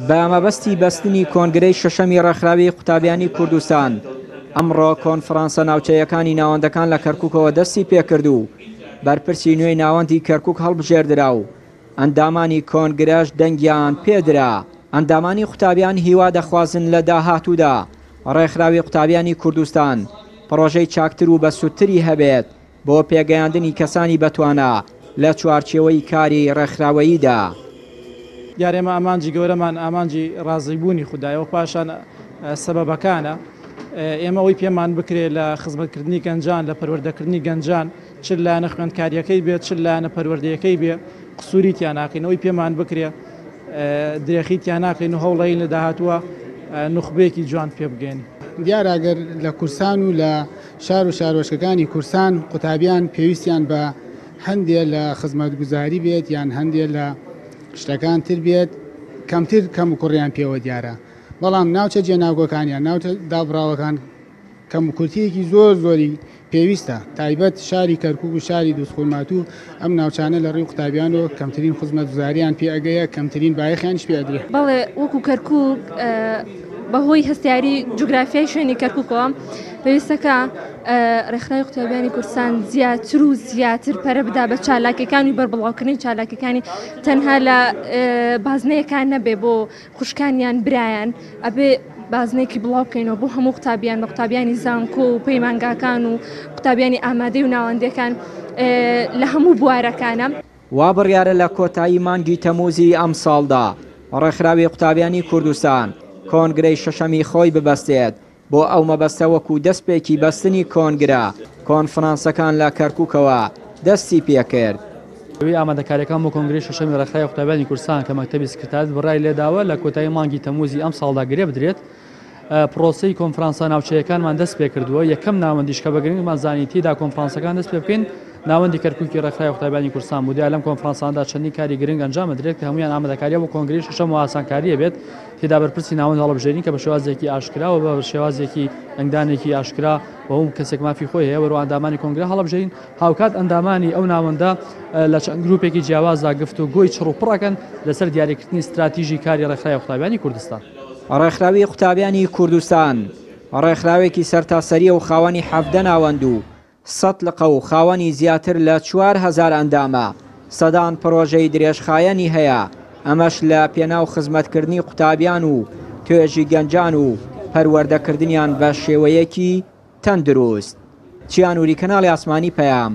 بە مەبەستی بەستنی کۆنگرەی شەشەمی ڕێکخراوی قوتابیانی کوردستان، ئەمڕۆ کۆنفرانسە ناوچەیەکانی ناوەندەکان لە کەرکوکەوە دەستی پێکرد و بەرپرسی نوێی ناوەندی کەرکوک هەڵبژێردرا و ئەندامانی کۆنگرەش دەنگیان پێدرا. ئەندامانی قوتابیان هیوا دەخوازن لە داهاتوودا ڕێکخراوی قوتابیانی کوردستان پڕۆژەی چاکتر و بەسوودتری هەبێت، بۆ پێگەیاندنی کەسانی بەتوانا لە چوارچێوەی کاری ڕێکخراوەییدا. دیارە ئێمە ئامانجی گەورەمان ئامانجی ڕازیبوونی خودایە و پاشان سەبەبەکانە. ئێمە ئەوەی پێمان بکرێت لە خزمەتکردنی گەنجان، لە پەروەردەکردنی گەنجان، چ لایەنە خوێندکارییەکەی بێت، چ لایەنە پەروەردەیەکەی بێت، قسووری تیا ناکەین. ئەوەی پێمان بکرێت درێخی تیا ناکەین و هەوڵدەین لە داهاتووە نوخبەیەکی جوان پێبگەین. دیارە گەر لە کورسان و لە. شار و شارۆچکەکانی کورسان و قوتابیان پێویستیان بە هەندێ لە خزمەتگوزاری بێت یان هەندێ لە شتەکان تر بێت کەمتر کەموکوڕیان پێوە دیارە بەڵام ناوچە جێناوگۆکانیان ناوچە دابڕاوەکان کەموکورتیەکی زۆر زۆری پێویستە تایبەت شاری کەرکوک و شاری دووسخورماتوو ئەم ناوچانە لە ڕووی قوتابیانەوە کەمترین خزمەتگوزارییان پێ ئەگەیە، کەمترین بایەخیانیش پێ ئەدرێ. بەڵێ، وەکوو کەرکووک بە هۆی هەستیاری جوگرافیای شوێنی کەرکووکەوە پێویستەکە ڕێکخراوی قوتابیانی کوردستان زیاتر و زیاتر پەرە بدا بە چالاکیەکانی بەربڵاوکردنی چالاکیەکانی تەنها لە بازنەیەکان نەبێ بۆ خوشکان یان برایان ئەبێ بازنەیەکی بڵاو بکەینەوە بۆ هەموو قوتابیان بە قوتابیانی زانکۆ و پەیمانگاکان و قوتابیانی ئامادەی و ناوەندەکان لە هەموو بوارەکانە. وا بڕیارە لە کۆتایی مانگی تەمووزی ئەمساڵدا ڕێکخراوی قوتابیانی کوردستان کۆنگرەی شەشەمی خۆی ببەستێت بۆ ئەو مەبەستە وەکو دەسپێکی بەستنی کۆنگرە کۆنفرانسەکان لە کەرکوکەوە دەستی پێکرد. زەوی ئامادەکارییەکان بۆ کۆنگرەی شەشەمی ڕێکخراوی قوتابیانی کوردستان کە مەکتەبی سکرتاریەت بڕیاری لێداوە لە کۆتایی مانگی تەمووزی ئەمساڵدا گرێبدرێت، پڕۆسەی کۆنفرانسە ناوچەیەکانمان دەستپێکردووە، یەکەم ناوەندیش کە بە گرنگمان زانی تێیدا کۆنفرانسەکان دەستپێبکەین ناوەندی کەرکوکی ڕێکخراوی قوتابیانی کوردستان بوو، دیارە لەم کۆنفرانسانەدا چەندین کاری گرنگ ئەنجامدەدرێت کە هەموویان ئامادەکارییە بۆ کۆنگرەی شەشەم و ئاسانکارییە بێت. تێدا بەرپرسی ناوەند هەڵبژێرین کە بە شێوازێکی ئاشکرا و بە شێوازێکی دەنگدانێکی ئاشکرا و هەموو کەسێک مافی خۆی هەیە وەرەوە ئەندامانی کۆنگرە هەڵبژێرین، هاوکات ئەندامانی ئەو ناوەندە لە چەند گرووپێکی جیاوازدا گفتوگۆی چڕ و پڕ ئەکەن لەسەر دیاریکردنی ستراتیژی کاری ڕێکخراوی قوتابیانی کوردستان. ڕێکخراوی قوتابیانی کوردستان ڕێکخراوێکی سەرتاسەرییە و خاوەنی حەڤدە ناوەند و سەد لقە و خاوەنی زیاتر لە چوار هەزار ئەندامە، سەدان پڕۆژەی درێژخایەنی هەیە، ئەمەش لە پێناو خزمەتکردنی قوتابیان و توێژی گەنجان و پەروەردەکردنیان بە شێوەیەکی تەندروست. چیا نوری کەناڵی ئاسمانی پەیام.